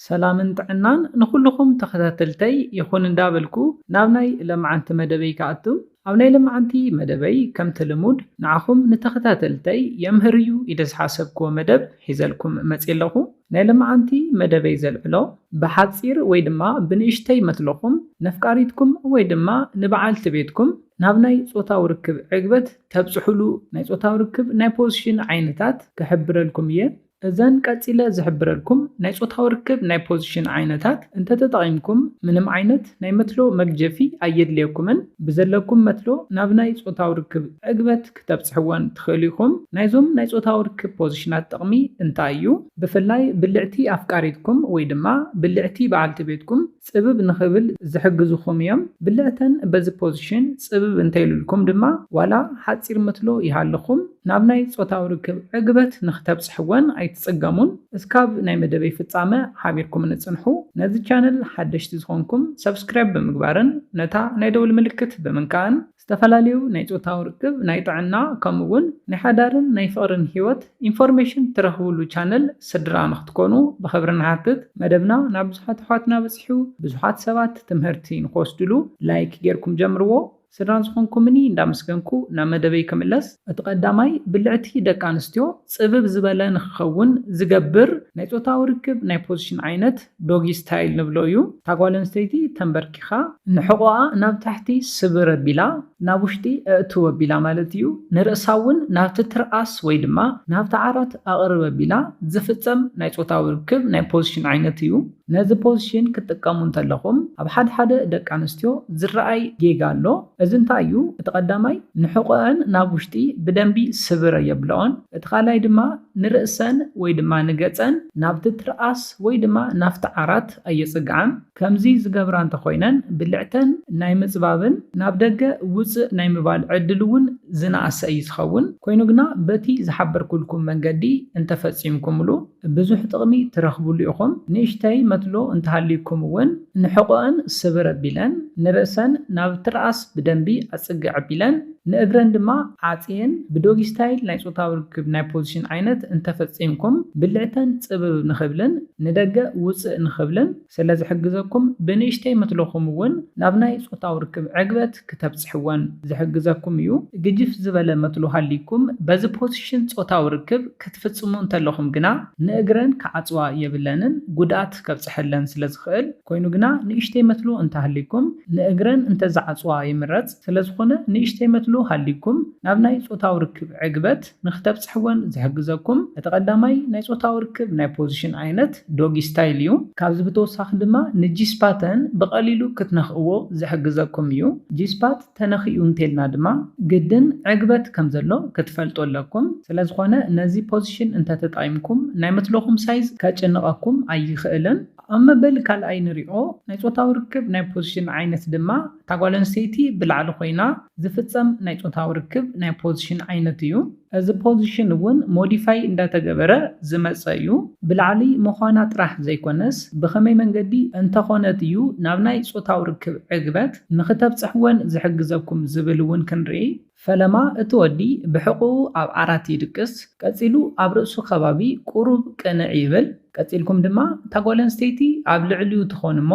ሰላምን ጥዕናን ንኹሉኹም ተኸታተልተይ ይኹን እንዳበልኩ ናብ ናይ ለማዓንቲ መደበይ ክኣቱ። ኣብ ናይ ለማዓንቲ መደበይ ከምቲ ልሙድ ንዓኹም ንተኸታተልተይ የምህር እዩ ኢለ ዝሓሰብክዎ መደብ ሒዘልኩም መጽየ ኣለኹ። ናይ ለማዓንቲ መደበይ ዘልዕሎ ብሓጺር ወይ ድማ ብንእሽተይ መትሎኹም ነፍቃሪትኩም ወይ ድማ ንባዓልቲ ቤትኩም ናብ ናይ ጾታዊ ርክብ ዕግበት ተብጽሑሉ ናይ ጾታዊ ርክብ ናይ ፖዝሽን ዓይነታት ክሕብረልኩም እየ። እዘን ቀጺለ ዝሕብረልኩም ናይ ጾታዊ ርክብ ናይ ፖዚሽን ዓይነታት እንተተጠቒምኩም ምንም ዓይነት ናይ መትሎ መግጀፊ ኣየድልየኩምን። ብዘለኩም መትሎ ናብ ናይ ጾታዊ ርክብ ዕግበት ክተብጽሕወን ትኽእሉ ኢኹም። ናይዞም ናይ ጾታዊ ርክብ ፖዚሽናት ጥቕሚ እንታይ እዩ? ብፍላይ ብልዕቲ ኣፍቃሪትኩም ወይ ድማ ብልዕቲ በዓልቲ ቤትኩም፣ ጽብብ ንኽብል ዝሕግዙኹም እዮም። ብልዕተን በዚ ፖዚሽን ጽብብ እንተይሉልኩም ድማ ዋላ ሓጺር ምትሎ ይሃልኹም ናብ ናይ ጾታዊ ርክብ ዕግበት ንኽተብጽሕወን ኣይትጽገሙን። እስካብ ናይ መደበይ ፍጻመ ሓቢርኩምኒ ጽንሑ። ነዚ ቻነል ሓደሽቲ ዝኾንኩም ሰብስክራይብ ብምግባርን ነታ ናይ ደውል ምልክት ብምንካእን ዝተፈላለዩ ናይ ጾታዊ ርክብ፣ ናይ ጥዕና ከምኡ ውን ናይ ሓዳርን ናይ ፍቕርን ሂወት ኢንፎርሜሽን ትረኽብሉ ቻነል ስድራ ንኽትኮኑ ብኽብሪ ንሓትት። መደብና ናብ ብዙሓት ኣሕዋትና በጺሑ ብዙሓት ሰባት ትምህርቲ ንኽወስድሉ ላይክ ጌርኩም ጀምርዎ። ስድራ ዝኾንኩምኒ እንዳመስገንኩ ናብ መደበይ ክምለስ። እቲ ቀዳማይ ብልዕቲ ደቂ ኣንስትዮ ጽብብ ዝበለ ንኽኸውን ዝገብር ናይ ጾታዊ ርክብ ናይ ፖዚሽን ዓይነት፣ ዶጊ ስታይል ንብሎ እዩ። እታ ጓል ኣንስተይቲ ተምበርኪኻ ንሕቖኣ ናብ ታሕቲ ስብር ኣቢላ ናብ ውሽጢ ኣእትው ኣቢላ ማለት እዩ። ንርእሳ እውን ናብቲ ትርኣስ ወይ ድማ ናብቲ ዓራት ኣቕርብ ኣቢላ ዝፍጸም ናይ ጾታዊ ርክብ ናይ ፖዝሽን ዓይነት እዩ። ነዚ ፖዝሽን ክትጥቀሙ እንተለኹም ኣብ ሓድሓደ ደቂ ኣንስትዮ ዝረኣይ ጌጋ ኣሎ። እዚ እንታይ እዩ? እቲ ቀዳማይ ንሕቖኣን ናብ ውሽጢ ብደንቢ ስብር ኣየብለኦን። እቲ ካልኣይ ድማ ንርእሰን ወይ ድማ ንገጸን ናብቲ ትርኣስ ወይ ድማ ናብቲ ዓራት ኣየጽግዓን። ከምዚ ዝገብራ እንተኾይነን ብልዕተን ናይ ምጽባብን ናብ ደገ ውጽእ ናይ ምባል ዕድል እውን ዝነኣሰ እዩ ዝኸውን። ኮይኑ ግና በቲ ዝሓበርኩልኩም መንገዲ እንተፈጺምኩምሉ፣ ብዙሕ ጥቕሚ ትረኽብሉ ኢኹም። ንእሽተይ መትሎ እንተሃልዩኩም እውን ንሕቖኣን ስብር ኣቢለን፣ ንርእሰን ናብ ትርኣስ ብደንቢ ኣጽግዕ ኣቢለን፣ ንእግረን ድማ ዓጽየን ብዶጊ ስታይል ናይ ጾታዊ ርክብ ናይ ፖዚሽን ዓይነት እንተፈጺምኩም ብልዕተን ጽብብ ንኽብልን ንደገ ውጽእ ንኽብልን፣ ስለ ዝሕግዘኩም ብንእሽተይ ምትልኹም እውን ናብ ናይ ጾታዊ ርክብ ዕግበት ክተብጽሕወን ዝሕግዘኩም እዩ። ግጅፍ ዝበለ መትሎ ሃልይኩም በዚ ፖሲሽን ጾታዊ ርክብ ክትፍጽሙ እንተለኹም ግና ንእግረን ክዓጽዋ የብለንን ጉድኣት ከብጽሐለን ስለ ዝኽእል። ኮይኑ ግና ንእሽተይ መትሎ እንተሃልይኩም ንእግረን እንተዝዓጽዋ ይምረጽ። ስለ ዝኾነ ንእሽተይ መትሎ ሃልይኩም ናብ ናይ ጾታዊ ርክብ ዕግበት። ንክተብጽሕወን ዝሕግዘኩም እቲ ቀዳማይ ናይ ጾታዊ ርክብ ናይ ፖዚሽን ዓይነት ዶጊ ስታይል እዩ። ካብዚ ብተወሳኺ ድማ ንጂ-ስፓተን ብቐሊሉ ክትነኽእዎ ዝሕግዘኩም እዩ። ጂ-ስፓት ተነኺኡ እንተልና ድማ ግድን ዕግበት ከም ዘሎ ክትፈልጡ ኣለኩም። ስለ ዝኾነ ነዚ ፖዚሽን እንተ ተጠቒምኩም ናይ መትሎኹም ሳይዝ ከጭንቐኩም ኣይኽእልን። ኣብ መበል ካልኣይ ንሪኦ ናይ ጾታዊ ርክብ ናይ ፖዚሽን ዓይነት ድማ እታ ጓል ኣንስተይቲ ብላዕሊ ኮይና ዝፍጸም ናይ ጾታዊ ርክብ ናይ ፖዚሽን ዓይነት እዩ። እዚ ፖዚሽን እውን ሞዲፋይ እንዳተገበረ ዝመጸ እዩ። ብላዕሊ ምዃና ጥራሕ ዘይኮነስ ብኸመይ መንገዲ እንተኾነት እዩ ናብ ናይ ጾታዊ ርክብ ዕግበት ንኽተብጽሕ ወን ዝሕግዘኩም ዝብል እውን ክንርኢ። ፈለማ እቲ ወዲ ብሕቝኡ ኣብ ዓራት ይድቅስ፣ ቀጺሉ ኣብ ርእሱ ከባቢ ቍሩብ ቅንዕ ይብል። ቀጺልኩም ድማ እታ ጓል ኣንስተይቲ ኣብ ልዕሊኡ ትኾን እሞ፣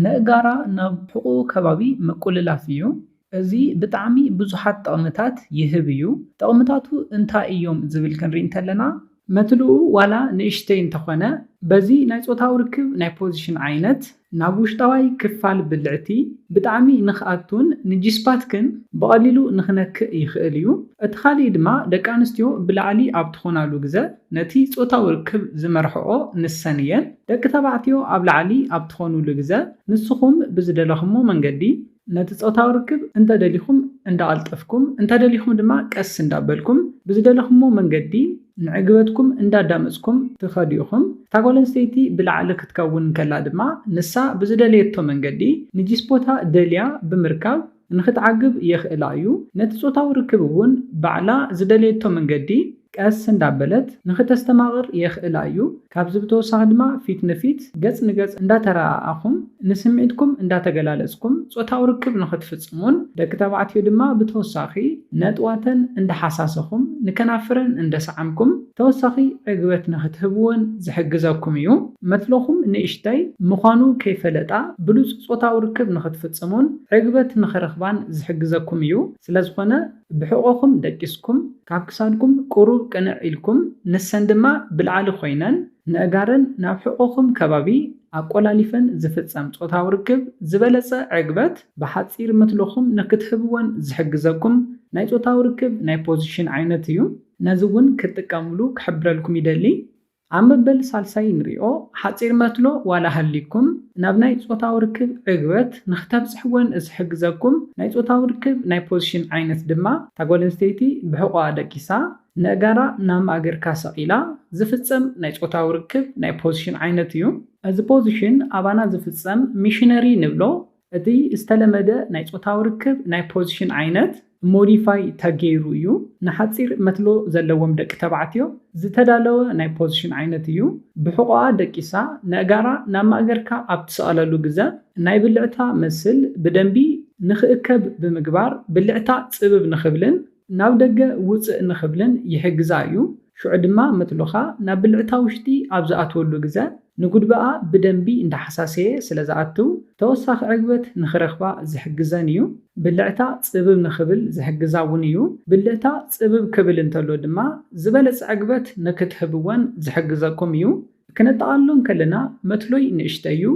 ነእጋራ ናብ ሕቁኡ ከባቢ ምቁልላፍ እዩ። እዚ ብጣዕሚ ብዙሓት ጠቕምታት ይህብ እዩ። ጠቕምታቱ እንታይ እዮም ዝብል ክንሪኢ እንተለና። መትልኡ ዋላ ንእሽተይ እንተኾነ በዚ ናይ ጾታዊ ርክብ ናይ ፖዚሽን ዓይነት ናብ ውሽጣዋይ ክፋል ብልዕቲ ብጣዕሚ ንክኣቱን ንጂስፓትክን ብቐሊሉ ንክነክእ ይኽእል እዩ። እቲ ካሊእ ድማ ደቂ ኣንስትዮ ብላዕሊ ኣብ ትኾናሉ ግዘ ነቲ ጾታዊ ርክብ ዝመርሕኦ ንሰን እየን። ደቂ ተባዕትዮ ኣብ ላዕሊ ኣብ ትኾኑሉ ግዘ ንስኹም ብዝደለኹሞ መንገዲ ነቲ ፆታዊ ርክብ እንተደሊኹም እንዳቐልጠፍኩም እንተደሊኹም ድማ ቀስ እንዳበልኩም ብዝደለኹሞ መንገዲ ንዕግበትኩም እንዳዳመፅኩም ትኸዱ ኢኹም። እታ ጓል ኣንስተይቲ ብላዕሊ ክትከውን እንከላ ድማ ንሳ ብዝደለየቶ መንገዲ ንጂስፖታ ደልያ ብምርካብ ንኽትዓግብ የኽእላ እዩ። ነቲ ጾታዊ ርክብ እውን ባዕላ ዝደለየቶ መንገዲ ቀስ እንዳበለት ንኽተስተማቕር የኽእላ እዩ። ካብዚ ብተወሳኺ ድማ ፊት ንፊት፣ ገጽ ንገጽ፣ እንዳተረኣኣኹም ንስምዒትኩም እንዳተገላለጽኩም ጾታዊ ርክብ ንኽትፍጽሙን ደቂ ተባዕትዮ ድማ ብተወሳኺ ነጥዋተን እንዳሓሳሰኹም ንከናፍረን እንደሰዓምኩም ተወሳኺ ዕግበት ንኽትህብወን ዝሕግዘኩም እዩ። መትሎኹም ንእሽተይ ምዃኑ ከይፈለጣ ብሉጽ ጾታዊ ርክብ ንኽትፍጽሙን ዕግበት ንኽረኽባን ዝሕግዘኩም እዩ። ስለዝኾነ ብሕቖኹም ደቂስኩም፣ ካብ ክሳድኩም ቁሩብ ቅንዕ ኢልኩም፣ ንሰን ድማ ብላዕሊ ኮይነን ነእጋረን ናብ ሕቖኹም ከባቢ ኣቆላሊፈን ዝፍጸም ጾታዊ ርክብ ዝበለጸ ዕግበት ብሓጺር መትሎኹም ንኽትህብወን ዝሕግዘኩም ናይ ጾታዊ ርክብ ናይ ፖዚሽን ዓይነት እዩ። ነዚ ውን ክትጥቀምሉ ክሕብረልኩም ይደሊ ኣብ መበል ሳልሳይ ንሪኦ ሓጺር መትሎ ዋላ ሃልይኩም ናብ ናይ ጾታዊ ርክብ ዕግበት ንክተብጽሕዎን ዝሕግዘኩም ናይ ጾታዊ ርክብ ናይ ፖዝሽን ዓይነት ድማ እታ ጓል ኣንስተይቲ ብሕቆኣ ደቂሳ ነእጋራ ናብ ማእገርካ ሰቂላ ዝፍጸም ናይ ጾታዊ ርክብ ናይ ፖዝሽን ዓይነት እዩ። እዚ ፖዝሽን ኣባና ዝፍጸም ሚሽነሪ ንብሎ እቲ ዝተለመደ ናይ ጾታዊ ርክብ ናይ ፖዚሽን ዓይነት ሞዲፋይ ተገይሩ እዩ። ንሓጺር መትሎ ዘለዎም ደቂ ተባዕትዮ ዝተዳለወ ናይ ፖዚሽን ዓይነት እዩ። ብሕቖኣ ደቂሳ ነእጋራ ናብ ማእገርካ ኣብ ትሰቕለሉ ግዘ ናይ ብልዕታ መስል ብደንቢ ንክእከብ ብምግባር ብልዕታ ጽብብ ንክብልን ናብ ደገ ውጽእ ንክብልን ይሕግዛ እዩ። ሽዑ ድማ መትሎኻ ናብ ብልዕታ ውሽጢ ኣብ ዝኣትወሉ ግዘ ንጉድበኣ ብደንቢ እንዳሓሳሰየ ስለ ዝኣትው ተወሳኺ ዕግበት ንኽረኽባ ዝሕግዘን እዩ። ብልዕታ ጽብብ ንኽብል ዝሕግዛ እውን እዩ። ብልዕታ ጽብብ ክብል እንተሎ ድማ ዝበለጸ ዕግበት ንክትህብወን ዝሕግዘኩም እዩ። ክነጠቓልሎ እንከለና መትሎይ ንእሽተይ እዩ፣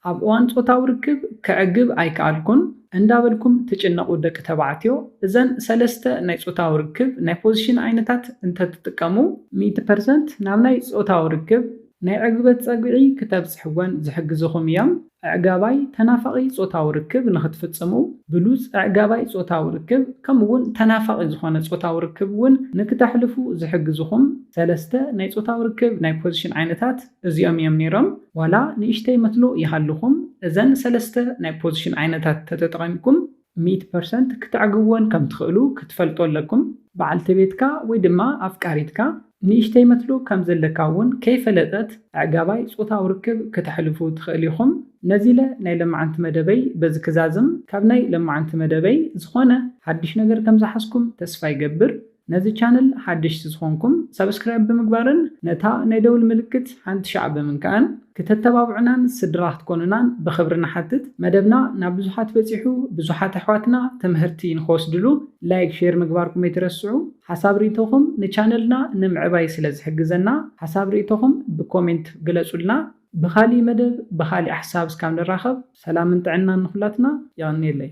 ኣብ እዋን ጾታዊ ርክብ ከዕግብ ኣይከኣልኩን እንዳበልኩም ትጭነቑ ደቂ ተባዕትዮ እዘን ሰለስተ ናይ ጾታዊ ርክብ ናይ ፖዚሽን ዓይነታት እንተትጥቀሙ ሚእቲ ፐርሰንት ናብ ናይ ጾታዊ ርክብ ናይ ዕግበት ጸግዒ ክተብጽሕወን ዝሕግዝኹም እዮም። ኣዕጋባይ ተናፋቒ ጾታዊ ርክብ ንኽትፍጽሙ፣ ብሉጽ ኣዕጋባይ ጾታዊ ርክብ ከምኡ'ውን ተናፋቒ ዝኾነ ጾታዊ ርክብ እውን ንክተሕልፉ ዝሕግዝኹም ሰለስተ ናይ ጾታዊ ርክብ ናይ ፖዚሽን ዓይነታት እዚኦም እዮም ነይሮም። ዋላ ንእሽተይ መትሎ ይሃልኹም፣ እዘን ሰለስተ ናይ ፖዚሽን ዓይነታት ተተጠቒምኩም፣ ሚእቲ ፐርሰንት ክተዕግብወን ከም ትኽእሉ ክትፈልጡ ኣለኩም። በዓልቲ ቤትካ ወይ ድማ ኣፍቃሪትካ ንእሽተይ መትሎ ከም ዘለካ እውን ከይፈለጠት ኣዕጋባይ ጾታዊ ርክብ ክተሕልፉ ትኽእል ኢኹም። ነዚለ ናይ ለማዓንቲ መደበይ በዚ ክዛዝም ካብ ናይ ለማዓንቲ መደበይ ዝኾነ ሓድሽ ነገር ከም ዝሓዝኩም ተስፋ ይገብር። ነዚ ቻነል ሓደሽቲ ዝኾንኩም ሳብስክራይብ ብምግባርን ነታ ናይ ደውል ምልክት ሓንቲ ሻዕ ብምንካእን ክተተባብዑናን ስድራ ክትኮኑናን ብኽብሪ ንሓትት መደብና ናብ ብዙሓት በጺሑ ብዙሓት ኣሕዋትና ትምህርቲ ንኽወስድሉ ላይክ ሼር ምግባርኩም ኣይትረስዑ ሓሳብ ሪኢቶኹም ንቻነልና ንምዕባይ ስለ ዝሕግዘና ሓሳብ ሪኢቶኹም ብኮሜንት ግለጹልና ብኻሊእ መደብ ብኻሊእ ሓሳብ እስካብ ንራኸብ ሰላምን ጥዕናን ንኹላትና የቐንየለይ።